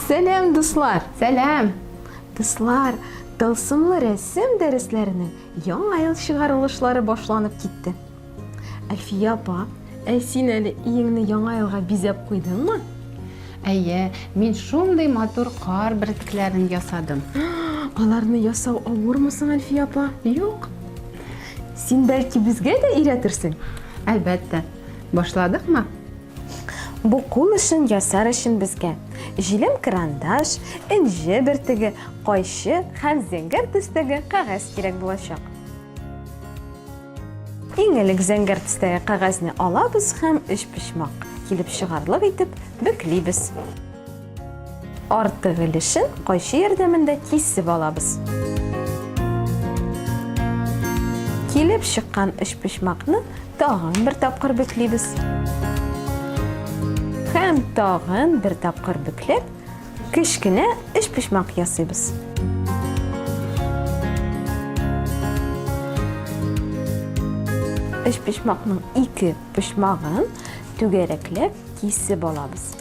Сәләм, дуслар! Сәләм! Дуслар, тылсымлы рәсем дәресләренең яңа ел чыгарылышлары башланып китте. Әлфия апа, ә син әле өеңне яңа елга бизәп куйдыңмы? Әйе, мин шундый матур кар бөртекләрен ясадым. Аларны ясау авырмы соң, Әлфия апа? Юк. Син бәлки безгә дә өйрәтерсең? Әлбәттә. Башладыкмы? Бу кул эшен ясар өчен безгә җилем карандаш, энҗе бөртеге, кайчы һәм зәңгәр төстәге кәгазь кирәк булачак. Иң элек зәңгәр төстәге кәгазьне алабыз һәм өчпочмак килеп чыгарлык итеп бөклибез. Артык өлешен кайчы ярдәмендә кисеп алабыз. Килеп чыккан өчпочмакны тагын бер тапкыр бөклибез. Һәм тагын бер тапкыр бөкләп, Кечкенә өчпочмак ясыйбыз. Өчпочмакның ике почмагын түгәрәкләп кисеп алабыз.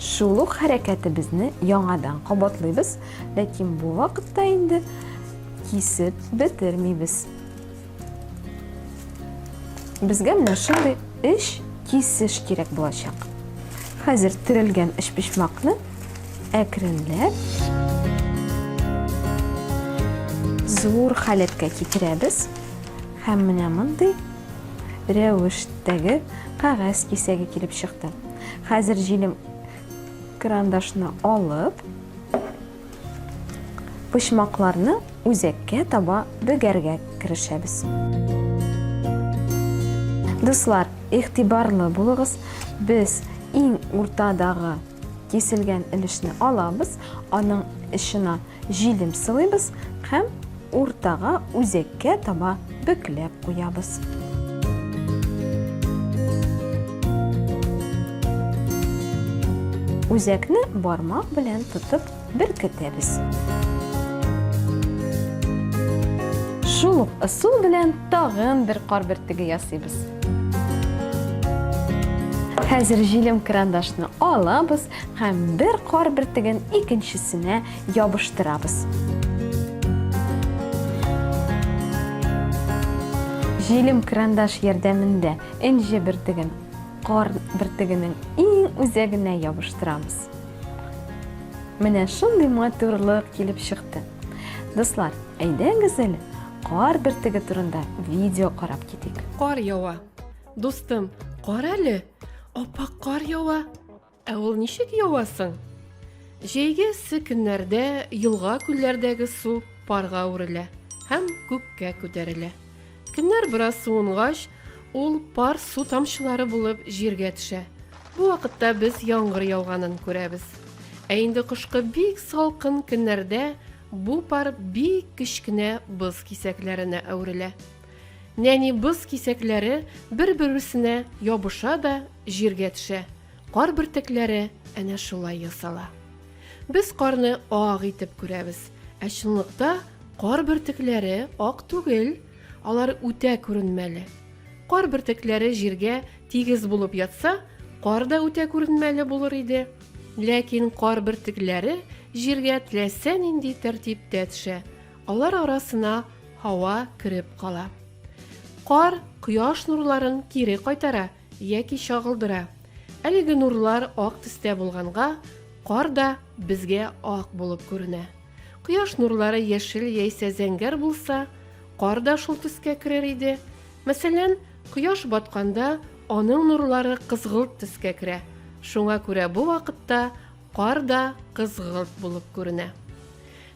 Шул ук хәрәкәтебезне яңадан кабатлыйбыз, ләкин бу вакытта инде кисеп бетермибез. Безгә менә шундый эш кисеш кирәк булачак. Хәзер төрелгән эчпочмакны әкренләп зур халәткә китерәбез һәм менә мондый рәвештәге кәгазь кисәге килеп чыкты. Хәзер җилем крандашны алып, Почмакларны үзәккә таба бөгәргә керешәбез. Дуслар, игътибарлы булыгыз, без иң уртадагы киселгән өлешне алабыз, аның эченә җилем сылыйбыз һәм Уртага үзәккә таба бөкләп куябыз. Үзәкне бармак белән тотып беркетәбез. Шул ук ысул белән тагын бер кар бөртеге ясыйбыз. Хәзер җилем крандашны алабыз һәм бер кар бөртеген икенчесенә ябыштырабыз. Җилем крандаш ярдәмендә энҗе бертеген кар бертегенең иң үзәгенә ябыштырабыз. Менә шундый матурлык килеп чыкты. Дуслар, әйдәгез әле, кар бертеге турында видео карап китик. Кар ява. Дустым, кар әле. Аппак кар ява. Ә ул ничек ява соң? Җәйге эссе көннәрдә елга-күлләрдәге су парга әверелә һәм күккә күтәрелә. Көннәр бераз суынгач, ул пар су тамчылары булып җиргә төшә. Бу вакытта без яңгыр яуганын күрәбез. Ә инде кышкы бик салкын көннәрдә бу пар бик кечкенә боз кисәкләренә әверелә. Нәни боз кисәкләре бер-берсенә ябыша да Җиргә төшә. Кар бөртекләре әнә шулай ясала. Без карны ак итеп күрәбез, ә чынлыкта кар бөртекләре ак түгел, алар үтә күренмәле. Кар бөртекләре җиргә тигез булып ятса, кар да үтә күренмәле булыр иде. Ләкин кар бөртекләре җиргә теләсә нинди тәртиптә төшә, алар арасына һава кереп кала. Кар кояш нурларын кире кайтара, Яки чагылдыра. Әлеге нурлар ак төстә булганга, кар да безгә ак булып күренә. Кояш нурлары яшел яисә зәңгәр булса, кар да шул төскә керер иде. Мәсәлән, кояш батканда аның нурлары кызгылт төскә керә, шуңа күрә бу вакытта кар да кызгылт булып күренә.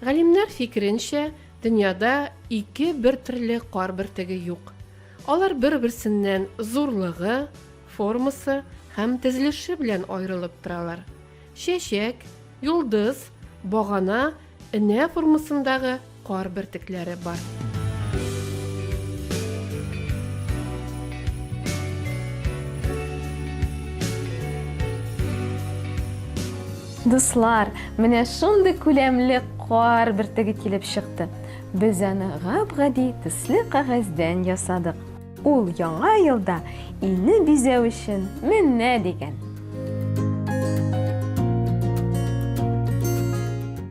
Галимнәр фикеренчә, дөньяда ике бертөрле кар бөртеге юк. Алар бер-берсеннән зурлыгы, формасы һәм тезелеше белән аерылып торалар. Чәчәк, йолдыз, багана, энә формасындагы кар бөртекләре бар. Дуслар, менә шундый күләмле кар бөртеге килеп чыкты. Без аны гап-гади төсле кәгазьдән ясадык. Ул Яңа елда илне бизәү өчен менә дигән.